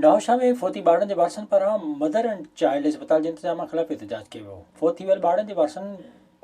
نوابشاهه ۾ فوتي ٻارڙن جي وارثن پاران مدر اينڊ چائلڊ اسپتال جي انتظامن خلاف احتجاج ڪيو ويو، فوت ٿي ويل ٻارڙن جي وارثن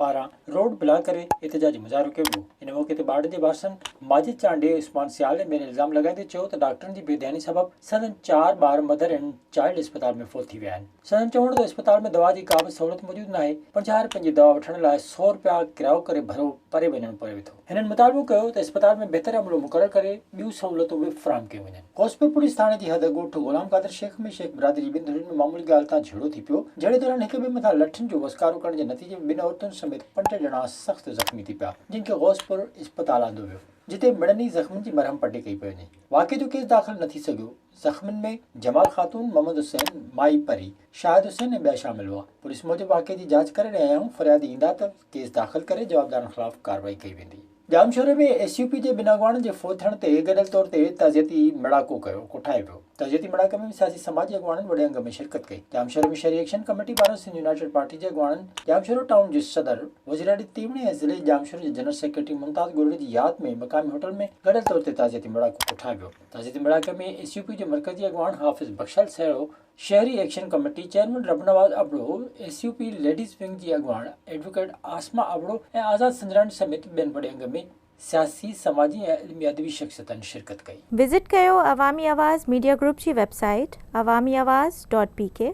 پاران روڊ بلاڪ ڪري احتجاجي مظاهرو ڪيو ويو، ان موقعي تي ٻارڙن جي وارثن ماجد چانڊيو، عثمان سيال ۽ ٻين الزام لڳائيندي چيو ته ڊاڪٽرن جي بي ڌياني سبب سندن چار ٻار مدر اينڊ چائلڊ اسپتال ۾ فوت ٿي ويا آهن. سندن چوڻ ته اسپتال ۾ دوا جي ڪابه سهولت موجود ناهي، پنجاهه رپين جي دوا وٺڻ لاء سؤ رپيا ڪرايو ڪري ڀرو پري وڃڻو پوي ٿو. هنن مطالبو ڪيو ته اسپتال ۾ بهتر عملو مقرر ڪري ٻيون سهولتون به فراهم ڪيون وڃن. غوثپور پوليس ٿاڻي جي حد ڳوٺ غلام قادر شيخ ۾ شيخ برادري جي ٻن ڌرين ۾ معمولي ڳالهه تان جهيڙو ٿي پيو، جهيڙي دوران هڪ ٻئي مٿان لٺن جو وسڪارو ڪرڻ جي نتيجي ۾ ٻن عورتن سميت پنج ڄڻا سخت زخمي ٿي پيا، جن کي غوثپور اسپتال آندو ويو، جتي مڙني زخمين جي مرهم پٽي ڪئي پئي وڃي. واقعي جو ڪيس داخل نه ٿي سگهيو. زخمين ۾ جمال خاتون، محمد حسين، مائي پري، شاهد حسين ۽ ٻيا شامل هئا. پوليس موجب واقعي جي جاچ ڪري رهيا آهيون، فريادي ايندا ته ڪيس داخل ڪري جوابدارن خلاف ڪارروائي ڪئي ويندي. ڄامشوري ۾ ايس يو پي جي ٻن اڳواڻن جي فوت ٿيڻ تي گڏيل طور تي تعزيتي ميڙاڪو ڪيو ڪوٺايو ويو. تعزيتي ميڙاڪي ۾ سياسي سماجي اڳواڻن وڏي انگ ۾ شرڪت ڪئي. ڄامشوري ۾ شھري ايڪشن ڪميٽي پاران سنڌ يونائيٽيڊ پارٽي جي اڳواڻن، ڄامشورو ٽائون جي صدر، وزيراڙي تيوڻي ۽ ضلعي ڄامشوري جي جنرل سيڪريٽري ممتاز ڳوڙهڙي جي ياد ۾ مقامي ھوٽل ۾ گڏيل طور تي تعزيتي ميڙاڪو ڪوٺايو ويو. تعزيتي ميڙاڪي ۾ ايس يو پي جي مرڪزي اڳواڻ حافظ بخشال سهرو، شهري action committee chairman Rab Nawaz Abro, S U P ladies wing جي اڳواڻ ايڊووڪيٽ عاصمه ابڙو ۽ آزاد سنڌڙاڻي سميت ٻين وڏي انگ ۾ سياسي، سماجي ۽ علمي ادبي شخصيتن شرڪت ڪئي. وزٽ ڪيو عوامي آواز ميڊيا گروپ جي website Awami Awaz dot P ڪي.